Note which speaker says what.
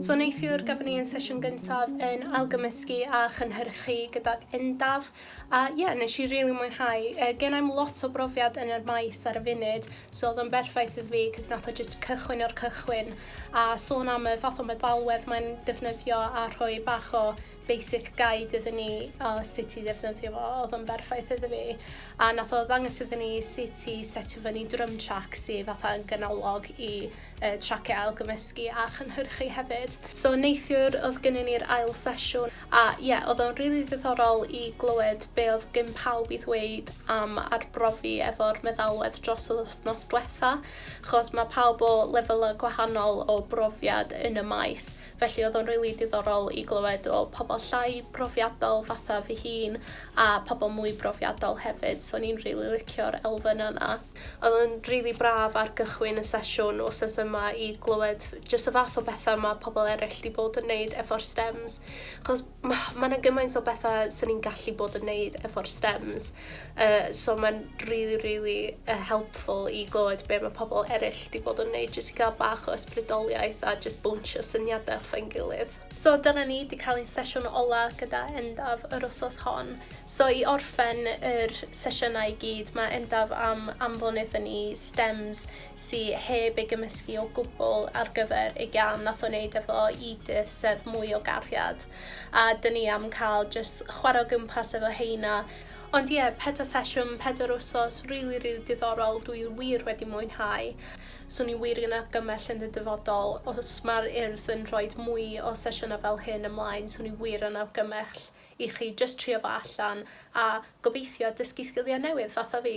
Speaker 1: So neithiwr gafon ni yn sesiwn gyntaf yn ailgymysgu a chynhyrchu gydag Endaf a ie yeah, nes i rili really mwynhau. Uh, gen i'm lot o brofiad yn yr maes ar y funud so oedd o'n berffaith iddo fi cys nath o just cychwyn o'r cychwyn a sôn am y fath o meddalwedd mae'n defnyddio a rhoi bach o basic guide iddyn ni o sut i ddefnyddio fo, oedd o'n berffaith iddo fi. A nath o ddangos iddyn ni sut i setio fyny drum track sy fatha yn ganolog i uh, traciau ailgymysgu a chynhyrchu hefyd. So neithiwr oedd gynnu ni'r ail sesiwn a ie, yeah, oedd o'n rili really ddiddorol i glywed be oedd gyn pawb i ddweud am arbrofi efo'r meddalwedd dros yr wythnos diwetha, chos mae pawb o lefelau gwahanol o brofiad yn y maes. Felly oedd o'n rili diddorol i glywed o pobl llai profiadol fatha fy hun a pobl mwy profiadol hefyd, so o'n i'n rili licio'r elfennau 'na. Oedd o'n rili braf ar gychwyn y sesiwn wsos yma i glywed jyst y fath o betha ma' pobl eryll 'di bod yn neud efo'r stems, 'chos ma' ma' 'na gymaint o betha swn i'n gallu bod yn neud efo'r stems yy so ma'n rili rili yy helpful i glywed be' ma' pobol eryll 'di bod yn neud jyst i ga'l bach o ysbrydoliaeth a jyst bownsio syniade off ein gilydd. So dyna ni 'di ca'l ein sesiwn ola gyda Endaf yr wsos hon. So i orffen yr sesiyna i gyd ma' Endaf am anfon iddo ni stems sy heb ei gymysgu o gwbl ar gyfer y gan nath o neud efo Edith sef mwy o gariad a dyn ni am cael jyst chwarae o gwmpas efo heina. Ond ie pedwar sesiwn pedwar wsos rili rili diddorol dwi wir wedi mwynhau. Swn i wir yn argymell yn y dyfodol os ma'r Urdd yn rhoid mwy o sesiyna fel hyn ymlaen swn i wir yn argymell i chi jyst trio fo allan a gobeithio dysgu sgilia newydd fatha fi.